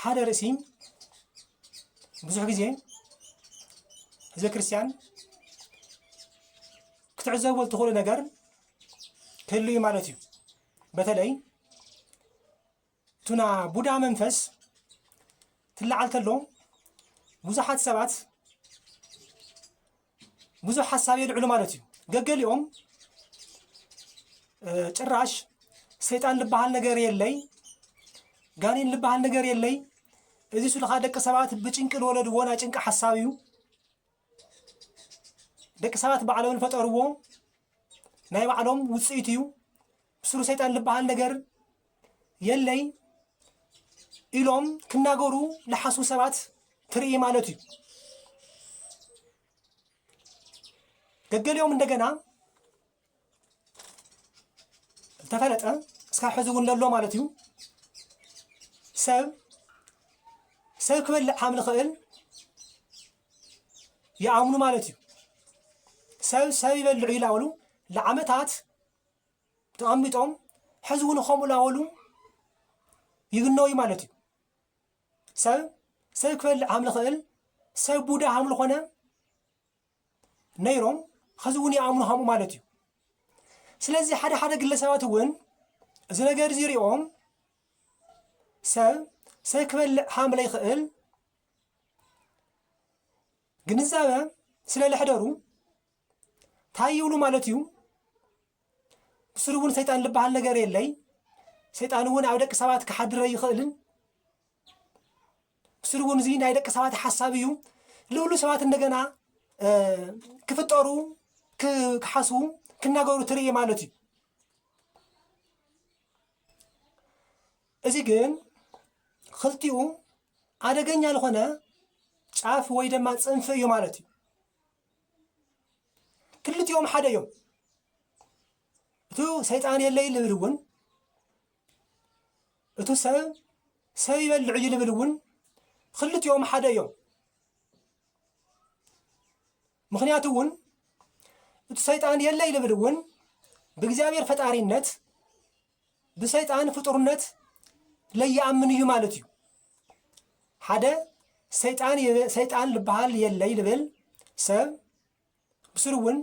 ሓደ ርእሲ ብዙሕ ግዜ ህዝበ ክርስቲያን ክትዕዘብዎ እትኽእሉ ነገር ክህሉ እዩ ማለት እዩ። በተለይ ቱና ቡዳ መንፈስ ትለዓል ተሎ ብዙሓት ሰባት ብዙሕ ሓሳብ የልዕሉ ማለት እዩ። ገገሊኦም ጭራሽ ሰይጣን ልበሃል ነገር የለይ፣ ጋኔን ልበሃል ነገር የለይ፣ እዚ ስሉኻ ደቂ ሰባት ብጭንቂ ዝወለድዎ ናይ ጭንቂ ሓሳብ እዩ፣ ደቂ ሰባት ባዕሎም ዝፈጠርዎ ናይ ባዕሎም ውፅኢት እዩ፣ ሱር ሰይጣን ልበሃል ነገር የለይ ኢሎም ክናገሩ ልሓስቡ ሰባት ትርኢ ማለት እዩ። ገገሊኦም እንደገና ዝተፈለጠ እስካብ ሕዚ እውን ለሎ ማለት እዩ ሰብ ሰብ ክበልዕ ከም ዝኽእል ይኣምኑ ማለት እዩ። ሰብ ሰብ ይበልዑ ይላበሉ ለዓመታት ተቐሚጦም ሕዚ እውን ከምኡ ላበሉ ይግነው እዩ ማለት እዩ ሰብ ሰብ ክበልዕ ሃም ዝኽእል ሰብ ቡዳ ሃም ዝኾነ ነይሮም ሕዚ እውን ይኣምኑ ሃምኡ ማለት እዩ ስለዚ ሓደ ሓደ ግለሰባት እውን እዚ ነገር እዚ ሪኦም ሰብ ሰብ ክበልዕ ሃም ለይኽእል ግንዛበ ስለ ለሕደሩ ታይ ይብሉ ማለት እዩ ብስሩ እውን ሰይጣን ዝበሃል ነገር የለይ ሰይጣን እውን ኣብ ደቂ ሰባት ክሓድረ ይኽእልን ብስሩ እውን እዚ ናይ ደቂ ሰባት ሓሳብ እዩ ልብሉ ሰባት እንደገና ክፍጠሩ ክሓስቡ ክናገሩ ትርኢ ማለት እዩ እዚ ግን ክልቲኡ ኣደገኛ ዝኾነ ጫፍ ወይ ድማ ፅንፊ እዩ ማለት እዩ ክልቲኦም ሓደ እዮም። እቱ ሰይጣን የለይ ልብል እውን እቱ ሰብ ሰብ ይበልዕ እዩ ልብል እውን ክልቲኦም ሓደ እዮም። ምክንያቱ እውን እቱ ሰይጣን የለይ ልብል እውን ብእግዚኣብሔር ፈጣሪነት ብሰይጣን ፍጡርነት ለይኣምን እዩ ማለት እዩ ሓደ ሰይጣን ሰይጣን ልበሃል የለይ ልብል ሰብ ብስሩ እውን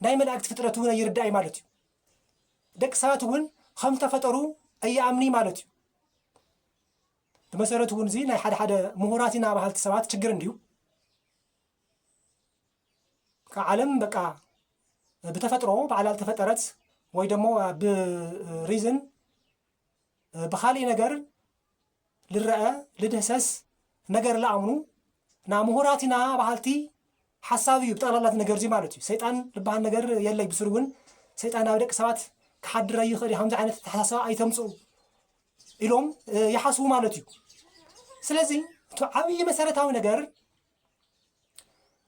ናይ መላእክቲ ፍጥረት እውን ኣይርዳእ እዩ ማለት እዩ ደቂ ሰባት እውን ከም ተፈጠሩ ኣይኣምኒ ማለት እዩ ብመሰረቱ እውን እዚ ናይ ሓደ ሓደ ምሁራት ኢና በሃልቲ ሰባት ችግር እንድዩ ዓለም በቃ ብተፈጥሮ ባዕላ ዝተፈጠረት ወይ ደሞ ብሪዝን ብኻሊእ ነገር ልረአ ልድህሰስ ነገር ልኣምኑ ና ምሁራት ኢና በሃልቲ ሓሳብ እዩ ብጠቕላላ ነገር እዚ ማለት እዩ ሰይጣን ዝበሃል ነገር የለይ ብስሩ እውን ሰይጣን ኣብ ደቂ ሰባት ክሓድረ ይኽእል እዩ ከምዚ ዓይነት ተሓሳሰባ ኣይተምፅኡ ኢሎም ይሓስቡ ማለት እዩ ስለዚ እቲ ዓብዪ መሰረታዊ ነገር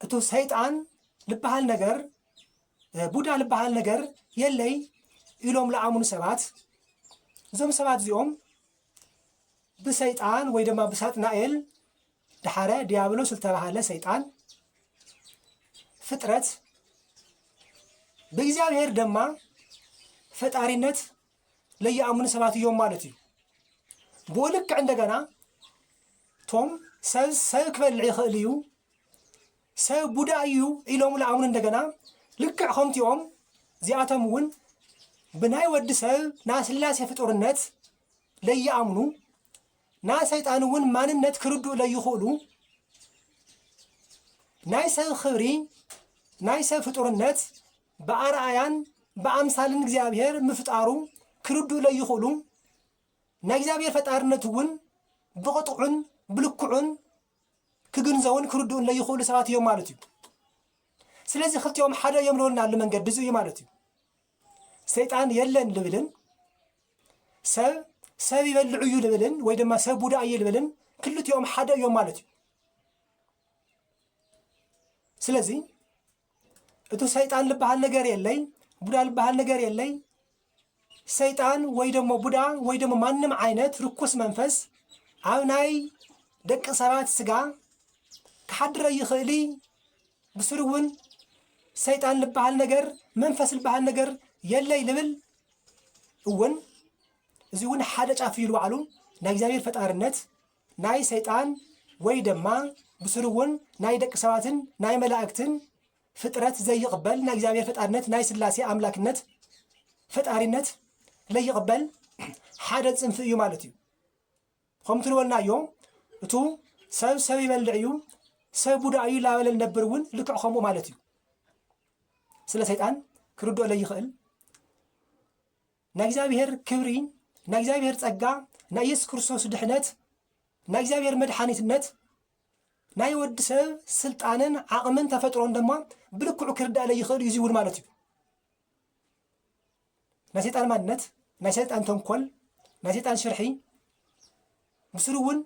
እቱ ሰይጣን ልበሃል ነገር ቡዳ ልበሃል ነገር የለይ ኢሎም ለኣሙኑ ሰባት እዞም ሰባት እዚኦም ብሰይጣን ወይ ድማ ብሳጥናኤል ድሓረ ዲያብሎስ ዝተባሃለ ሰይጣን ፍጥረት ብእግዚኣብሔር ድማ ፈጣሪነት ለይኣምኑ ሰባት እዮም ማለት እዩ። ብኡ ልክዕ እንደገና ቶም ሰብ ሰብ ክበልዕ ይኽእል እዩ ሰብ ቡዳ እዩ ኢሎም ለኣምኑ እንደገና ልክዕ ከምቲኦም እዚኣቶም እውን ብናይ ወዲ ሰብ ናይ ስላሴ ፍጡርነት ለይኣምኑ ናይ ሰይጣን እውን ማንነት ክርድኡ ለይኽእሉ ናይ ሰብ ክብሪ ናይ ሰብ ፍጡርነት ብኣርኣያን ብኣምሳልን እግዚኣብሔር ምፍጣሩ ክርድኡ ለይኽእሉ ናይ እግዚኣብሔር ፈጣርነት እውን ብቕጥዑን ብልክዑን ክግንዘውን ክርድኡን ለይኽእሉ ሰባት እዮም ማለት እዩ ስለዚ ክልቲኦም ሓደ እዮም ልበሉና ኣሎ መንገዲ እዚ እዩ ማለት እዩ ሰይጣን የለን ልብልን ሰብ ሰብ ይበልዑ እዩ ልብልን ወይ ድማ ሰብ ቡዳ እዩ ልብልን ክልቲኦም ሓደ እዮም ማለት እዩ ስለዚ እቱ ሰይጣን ልበሃል ነገር የለይ ቡዳ ልበሃል ነገር የለይ ሰይጣን ወይ ደሞ ቡዳ ወይ ደሞ ማንም ዓይነት ርኩስ መንፈስ ኣብ ናይ ደቂ ሰባት ስጋ ክሓድረ ይኽእል ብስሩ እውን ሰይጣን ልበሃል ነገር መንፈስ ልበሃል ነገር የለይ ልብል እውን እዚ እውን ሓደ ጫፍ እዩ ባዕሉ ናይ እግዚኣብሔር ፈጣርነት ናይ ሰይጣን ወይ ደማ ብሱሩ እውን ናይ ደቂ ሰባትን ናይ መላእክትን ፍጥረት ዘይቕበል ናይ እግዚኣብሔር ፈጣርነት ናይ ስላሴ ኣምላክነት ፈጣሪነት ለይቕበል ሓደ ፅንፊ እዩ ማለት እዩ ከምቲ ንበልናዮ እቱ ሰብ ሰብ ይበልዕ እዩ ሰብ ቡዳ እዩ ላበለ ነብር እውን ልክዕ ከምኡ ማለት እዩ ስለ ሰይጣን ክርድኦ ለይኽእል ናይ እግዚኣብሔር ክብሪ፣ ናይ እግዚኣብሔር ጸጋ፣ ናይ ኢየሱስ ክርስቶስ ድሕነት፣ ናይ እግዚኣብሔር መድሓኒትነት፣ ናይ ወዲ ሰብ ስልጣንን ዓቕምን ተፈጥሮን ድማ ብልክዑ ክርዳእለይ ይኽእል እዩ እዚ እውን ማለት እዩ። ናይ ሰይጣን ማንነት፣ ናይ ሰይጣን ተንኮል፣ ናይ ሰይጣን ሽርሒ ምስሉ እውን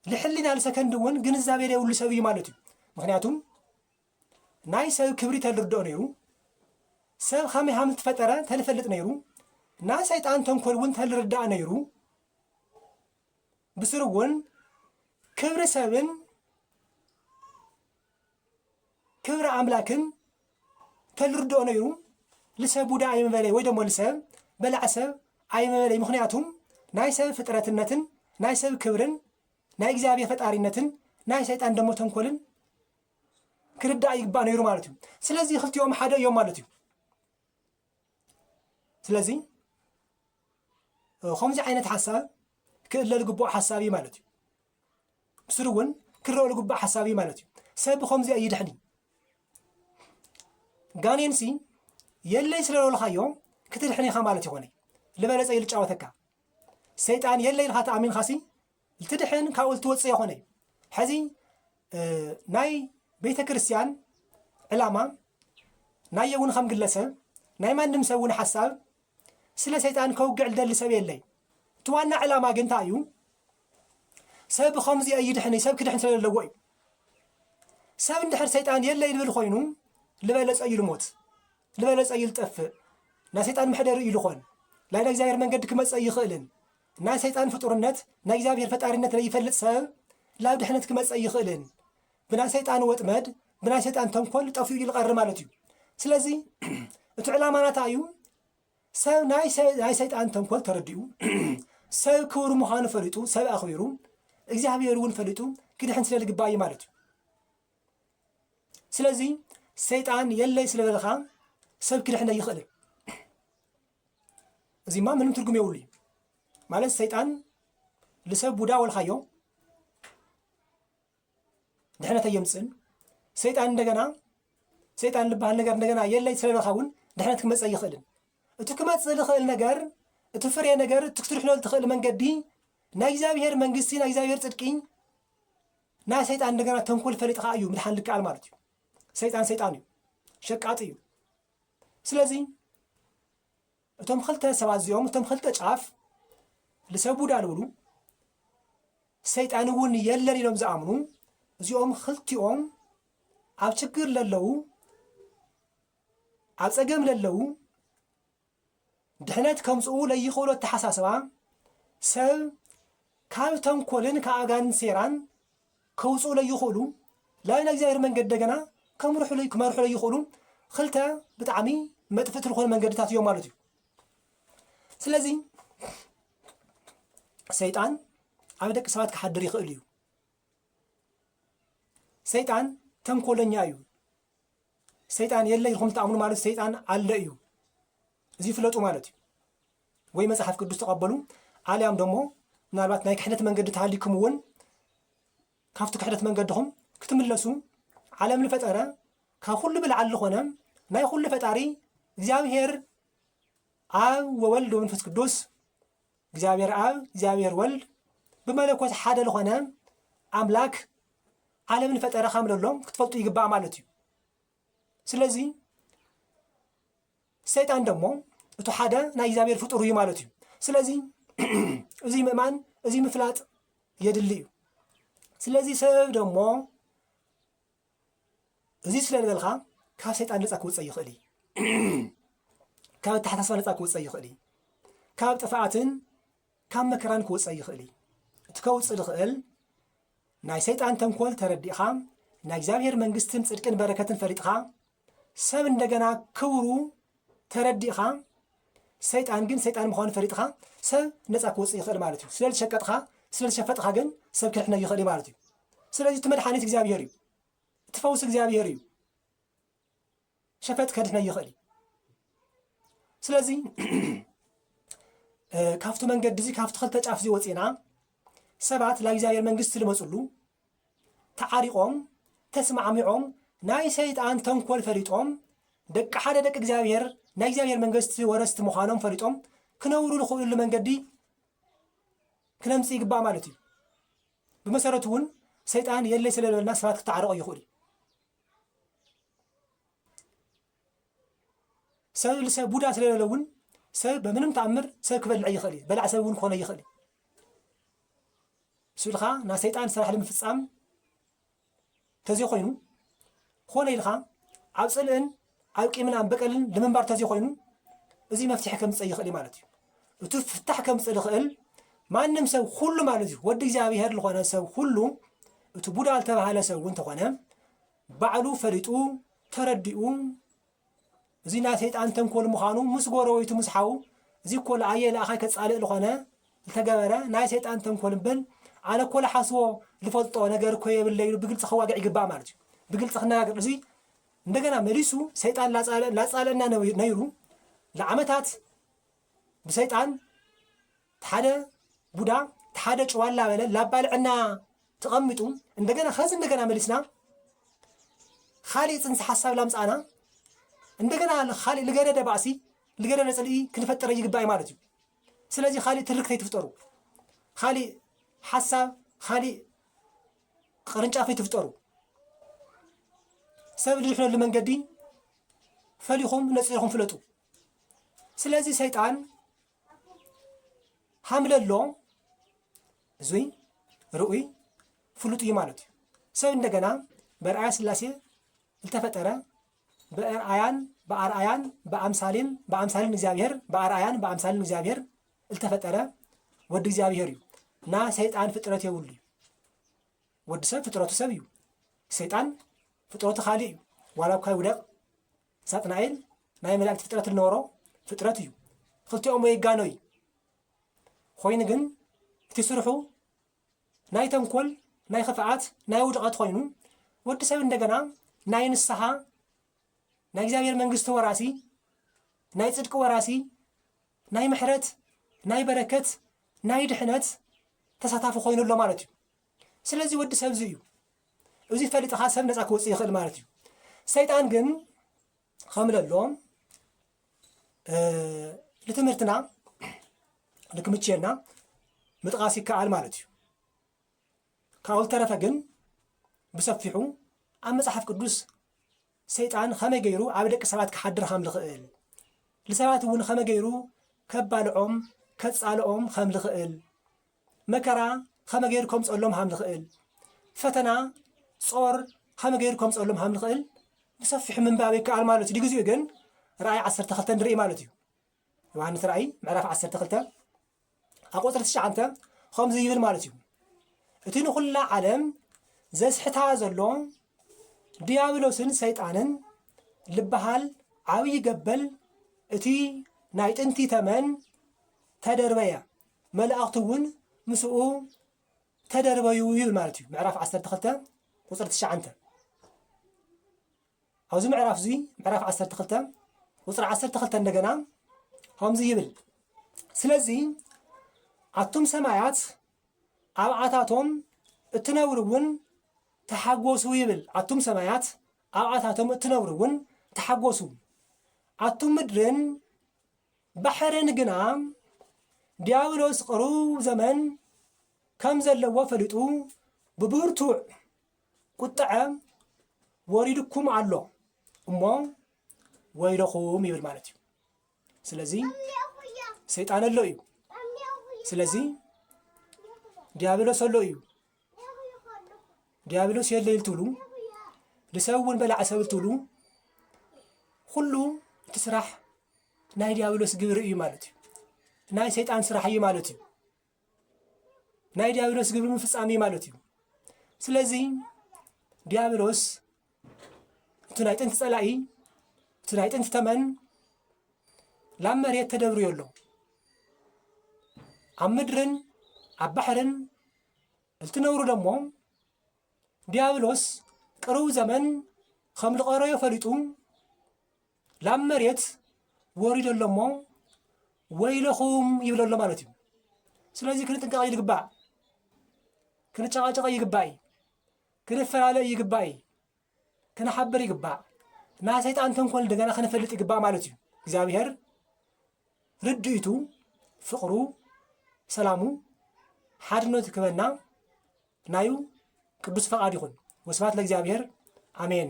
ልሕሊና ልሰከንድ እውን ግንዛቤ ዘይብሉ ሰብ እዩ ማለት እዩ። ምክንያቱም ናይ ሰብ ክብሪ ተልርድኦ ነይሩ ሰብ ኸመይ ሃም ዝተፈጠረ ተልፈልጥ ነይሩ ናይ ሰይጣን ተንኮል እውን ተልርዳእ ነይሩ ብስሩ እውን ክብሪ ሰብን ክብሪ ኣምላክን ተልርድኦ ነይሩ ልሰብ ቡዳ ኣይምበለይ ወይ ደሞ ልሰብ በላዕ ሰብ ኣይምበለይ ምክንያቱም ናይ ሰብ ፍጥረትነትን ናይ ሰብ ክብርን ናይ እግዚኣብሔር ፈጣሪነትን ናይ ሰይጣን ደሞ ተንኮልን ክርዳእ ይግባእ ነይሩ ማለት እዩ ስለዚ ክልቲኦም ሓደ እዮም ማለት እዩ ስለዚ ከምዚ ዓይነት ሓሳብ ክእለ ዝግብኦ ሓሳብ እዩ ማለት እዩ ምስሉ እውን ክረኦ ዝግብኦ ሓሳብ እዩ ማለት እዩ ሰብ ብከምዚ ኣይድሕን ጋኔንሲ የለይ ስለ ዝበልካዮ ክትድሕን ኢኻ ማለት ይኾነ ልበለፀ ኢሉ ጫወተካ ሰይጣን የለይ ኢልካ ተኣሚንካሲ ልትድሕን ካብኡ ልትወፅእ የኮነ እዩ ሐዚ ናይ ቤተ ክርስቲያን ዕላማ ናየ እውን ከም ግለሰብ ናይ ማንም ሰብ እውን ሓሳብ ስለ ሰይጣን ከውግዕ ልደሊ ሰብ የለይ እቲ ዋና ዕላማ ግን እንታይ እዩ ሰብ ከምዚ ኣይድሕን ሰብ ክድሕን ስለ ዘለዎ እዩ ሰብ እንድሕር ሰይጣን የለ ይብል ኮይኑ ልበለፀ እዩ ልሞት ልበለፀ እዩ ልጠፍእ ናይ ሰይጣን መሕደሪ እዩ ልኾን ናይ እግዚኣብሔር መንገዲ ክመፀ ይኽእልን ናይ ሰይጣን ፍጡርነት ናይ እግዚኣብሔር ፈጣሪነት ለይፈልጥ ሰብ ላብ ድሕነት ክመጽእ ኣይኽእልን። ብናይ ሰይጣን ወጥመድ ብናይ ሰይጣን ተንኮል ጠፊኡ እዩ ልቐሪ ማለት እዩ። ስለዚ እቲ ዕላማ ናታ እዩ ሰብ ናይ ሰ- ናይ ሰይጣን ተንኮል ተረዲኡ ሰብ ክቡር ምዃኑ ፈሊጡ ሰብ ኣኽቢሩ እግዚኣብሔር እውን ፈሊጡ ክድሕን ስለ ልግባእ እዩ ማለት እዩ። ስለዚ ሰይጣን የለይ ስለ በልኻ ሰብ ክድሕን ኣይኽእልን። እዚማ ምንም ትርጉም የብሉ እዩ ማለት ሰይጣን ልሰብ ቡዳ ወልካዮ ድሕነት ኣየምፅእን ሰይጣን እንደገና ሰይጣን ልበሃል ነገር እንደገና የለይ ስለለካ እውን ድሕነት ክመፀ ይኽእልን እቲ ክመፅእ ዝኽእል ነገር እቲ ፍሬ ነገር እቲ ክትርሕሎ ትኽእል መንገዲ ናይ እግዚኣብሄር መንግስቲ ናይ እግዚኣብሄር ፅድቂ ናይ ሰይጣን እንደገና ተንኮል ፈሊጥኻ እዩ ምድሓን ልከኣል ማለት እዩ ሰይጣን ሰይጣን እዩ ሸቃጢ እዩ ስለዚ እቶም ኽልተ ሰባት እዚኦም እቶም ኽልተ ጫፍ ልሰ ቡዳ ልብሉ ሰይጣን እውን የለን ኢሎም ዝኣምኑ እዚኦም ኽልቲኦም ኣብ ችግር ለለዉ ኣብ ጸገም ለለዉ ድሕነት ከምጽኡ ለይኽእሉ ኣተሓሳስባ ሰብ ካብ ተንኮልን ካብ ኣጋንንት ሴራን ከውጽኡ ለይኽእሉ ላብ ናይ እግዚኣብሔር መንገድ ደገና ከምርሑ ክመርሑ ለይኽእሉ ክልተ ብጣዕሚ መጥፍእቲ ዝኾኑ መንገድታት እዮም ማለት እዩ ስለዚ ሰይጣን ኣብ ደቂ ሰባት ክሓድር ይኽእል እዩ ሰይጣን ተንኮለኛ እዩ። ሰይጣን የለ ኢልኩም ትኣምኑ ማለት ሰይጣን ኣለ እዩ። እዚ ፍለጡ ማለት እዩ። ወይ መጽሓፍ ቅዱስ ተቐበሉ ኣልያም ደሞ ምናልባት ናይ ክሕደት መንገዲ ተሃሊኩም እውን ካብቲ ክሕደት መንገድኹም ክትምለሱ ዓለም ዝፈጠረ ካብ ኩሉ ብልዓል ዝኾነ ናይ ኩሉ ፈጣሪ እግዚኣብሔር ኣብ ወወልድ ወመንፈስ ቅዱስ እግዚኣብሔር ኣብ እግዚኣብሔር ወልድ ብመለኮት ሓደ ልኾነ ኣምላክ ዓለም ንፈጠረ ከም ለሎ ክትፈልጡ ይግባእ ማለት እዩ ስለዚ ሰይጣን ደሞ እቱ ሓደ ናይ እግዚኣብሔር ፍጡር እዩ ማለት እዩ ስለዚ እዚ ምእማን እዚ ምፍላጥ የድሊ እዩ ስለዚ ሰብ ደሞ እዚ ስለ ዝበልካ ካብ ሰይጣን ነፃ ክውፀእ ይኽእል እዩ። ካብ ኣተሓሳስባ ነፃ ክውፀእ ይኽእል እዩ። ካብ ጥፍኣትን ካብ መከራን ክውፀእ ይኽእል እዩ። እቲ ከውፅእ ዝኽእል ናይ ሰይጣን ተንኮል ተረዲእኻ ናይ እግዚኣብሔር መንግስትን ፅድቅን በረከትን ፈሊጥኻ ሰብ እንደገና ክብሩ ተረዲእኻ ሰይጣን ግን ሰይጣን ምዃኑ ፈሊጥኻ ሰብ ነፃ ክወፅእ ይኽእል ማለት እዩ። ስለ ዝሸቀጥኻ ስለ ዝሸፈጥኻ ግን ሰብ ክድሕነይ ይኽእል እዩ ማለት እዩ። ስለዚ እቲ መድሓኒት እግዚኣብሄር እዩ። እቲ ፈውሲ እግዚኣብሄር እዩ። ሸፈጥ ከድሕነይ ይኽእል እዩ። ስለዚ ካብቲ መንገዲ እዚ ካብቲ ክልተ ጫፍ እዚ ወፂእና ሰባት ናብ እግዚኣብሄር መንግስቲ ዝመፅሉ ተዓሪቆም ተስማዕሚዖም ናይ ሰይጣን ተንኮል ፈሊጦም ደቂ ሓደ ደቂ እግዚኣብሔር ናይ እግዚኣብሔር መንግስቲ ወረስቲ ምዃኖም ፈሊጦም ክነብሩ ዝኽእሉሉ መንገዲ ክነምፅ ይግባእ ማለት እዩ ብመሰረቱ እውን ሰይጣን የለይ ስለበልና ሰባት ክተዓረቁ ይኽእሉ እዩ ሰብ ልሰ ቡዳ ስለለለ እውን ሰብ በምንም ተኣምር ሰብ ክበልዕ እይኽእል እዩ በላዕ ሰብ እውን ክኾነ እይኽእል እዩ እሱ ኢልካ ናይ ሰይጣን ስራሕ ንምፍፃም ተዘይኮይኑ ኮነ ኢልካ ኣብ ፅልእን ኣብ ቂምናን በቀልን ልምንባር ተዘይኮይኑ እዚ መፍትሒ ከምፅእ ይኽእል ማለት እዩ እቲ ፍታሕ ከምፅእ ዝኽእል ማንም ሰብ ኩሉ ማለት እዩ ወዲ እግዚኣብሄር ዝኾነ ሰብ ኩሉ እቲ ቡዳ ዝተባሃለ ሰብ እውን ተኾነ ባዕሉ ፈሊጡ ተረዲኡ እዙይ ናይ ሰይጣን ተንኮል ምዃኑ ምስ ጎረቤቱ ምስ ሓው እዚ እኮ ለኣየ ለኣኻይ ከጻልእ ልኾነ ዝተገበረ ናይ ሰይጣን ተንኮል እምብል ኣነ እኮ ልሓስቦ ልፈልጦ ነገር እኮ የብለይ ኢሉ ብግልፂ ክዋግዕ ይግባእ ማለት እዩ። ብግልፂ ክነጋገር እዙይ እንደገና መሊሱ ሰይጣን ላፃለና ነይሩ ንዓመታት ብሰይጣን ትሓደ ቡዳ ትሓደ ጭዋ ላበለ ላባልዐና ትቐምጡ እንደገና ከዚ እንደገና መሊስና ኻሊእ ፅንሰ ሓሳብ ላምፃእና እንደገና ኻሊእ ልገደደ ባእሲ ልገደደ ፅልኢ ክንፈጥረ ይግባእ ማለት እዩ ስለዚ ኻሊእ ትርክት ኣይትፍጠሩ ኻሊእ ሓሳብ ኻሊእ ቅርንጫፍ ኣይትፍጠሩ ሰብ ዝድሕነሉ መንገዲ ፈሊኹም ነፂርኹም ፍለጡ ስለዚ ሰይጣን ሃምለ ኣሎ እዙይ ርኡይ ፍሉጥ እዩ ማለት እዩ። ሰብ እንደገና በርኣያ ስላሴ ዝተፈጠረ በርኣያን በኣርኣያን በኣምሳሌን በኣምሳሌን እግዚኣብሔር በኣርኣያን በኣምሳሌን እግዚኣብሔር ዝተፈጠረ ወዲ እግዚኣብሔር እዩ እና ሰይጣን ፍጥረት የብሉ እዩ ወዲ ሰብ ፍጥረቱ ሰብ እዩ ሰይጣን ፍጥረቱ ካልእ እዩ ዋላ እኳ ይውደቕ ሳጥናኤል ናይ መላእክት ፍጥረት ልነበሮ ፍጥረት እዩ ክልቲኦም ወይ ይጋኖ እዩ ኮይኑ ግን እቲ ስርሑ ናይ ተንኮል ናይ ክፍኣት ናይ ውድቐት ኮይኑ ወዲ ሰብ እንደገና ናይ ንስሓ ናይ እግዚኣብሔር መንግስቲ ወራሲ ናይ ጽድቂ ወራሲ ናይ ምሕረት ናይ በረከት ናይ ድሕነት ተሳታፊ ኮይኑ ኣሎ ማለት እዩ ስለዚ ወዲ ሰብ እዚ እዩ። እዚ ፈሊጥኻ ሰብ ነፃ ክወፅእ ይኽእል ማለት እዩ። ሰይጣን ግን ከምለሎ ንትምህርትና ንክምችየና ምጥቓስ ይከኣል ማለት እዩ። ካብኡ ዝተረፈ ግን ብሰፊሑ ኣብ መጽሓፍ ቅዱስ ሰይጣን ከመይ ገይሩ ኣብ ደቂ ሰባት ክሓድር ከም ዝኽእል ንሰባት እውን ከመይ ገይሩ ከባልዖም ከጻልኦም ከም ዝኽእል መከራ ኸመ ገይሩ ከምጽኦሎም ሃም ልኽእል፣ ፈተና፣ ጾር፣ ኸመ ገይሩ ከምጽኦሎም ሃም ልኽእል ብሰፊሑ ምንባብ ይከኣል ማለት እዩ። ድግዚኡ ግን ራእይ ዓሰርተ ክልተ ንርኢ ማለት እዩ። ዮሃንስ ራእይ ምዕራፍ ዓሰርተ ክልተ ኣብ ቁጽሪ ትሽዓንተ ኸምዚ ይብል ማለት እዩ። እቲ ንኹላ ዓለም ዘስሕታ ዘሎ ድያብሎስን ሰይጣንን ልበሃል ዓብዪ ገበል እቲ ናይ ጥንቲ ተመን ተደርበየ። መላእኽቱ እውን ምስኡ ተደርበዩ ይብል ማለት እዩ ምዕራፍ 12 ቁፅሪ ትሽዓንተ ኣብዚ ምዕራፍ እዙይ ምዕራፍ 12 ቁፅሪ 12 እንደገና ከምዚ ይብል ስለዚ ኣቱም ሰማያት ኣብኣታቶም እትነብሩ እውን ተሓጎሱ ይብል ኣቱም ሰማያት ኣብኣታቶም እትነብሩ እውን ተሓጎሱ ኣቱም ምድርን ባሕርን ግና ዲያብሎስ ቅሩብ ዘመን ከም ዘለዎ ፈሊጡ ብብርቱዕ ቁጥዐ ወሪድኩም ኣሎ እሞ ወይለኹም ይብል ማለት እዩ። ስለዚ ሰይጣን ኣሎ እዩ። ስለዚ ዲያብሎስ ኣሎ እዩ። ዲያብሎስ የለ ይልትብሉ ንሰብ እውን በላዕ ሰብ ልትብሉ ኩሉ እቲ ስራሕ ናይ ዲያብሎስ ግብሪ እዩ ማለት እዩ። ናይ ሰይጣን ስራሕ እዩ ማለት እዩ። ናይ ዲያብሎስ ግብሪ ምፍፃም እዩ ማለት እዩ። ስለዚ ዲያብሎስ እቲ ናይ ጥንቲ ፀላኢ እቲ ናይ ጥንቲ ተመን ላብ መሬት ተደብርዮ ኣሎ ኣብ ምድርን ኣብ ባሕርን እልትነብሩ ደሞ ዲያብሎስ ቅርቡ ዘመን ከም ልቐረዮ ፈሊጡ ላብ መሬት ወሪዶ ኣሎ እሞ ወይለኹም ይብሎ ኣሎ ማለት እዩ። ስለዚ ክንጥንቀቕ ይግባእ። ክንጨቓጨቐ ይግባእ፣ ክንፈላለ ይግባእ፣ ክንሓብር ይግባእ። ናይ ሰይጣን ተንኮል እንደገና ክንፈልጥ ይግባእ ማለት እዩ። እግዚኣብሔር ርድኢቱ፣ ፍቕሩ፣ ሰላሙ፣ ሓድነቱ ክበና ናዩ ቅዱስ ፈቃድ ይኹን። ወስብሐት ለእግዚኣብሔር አሜን።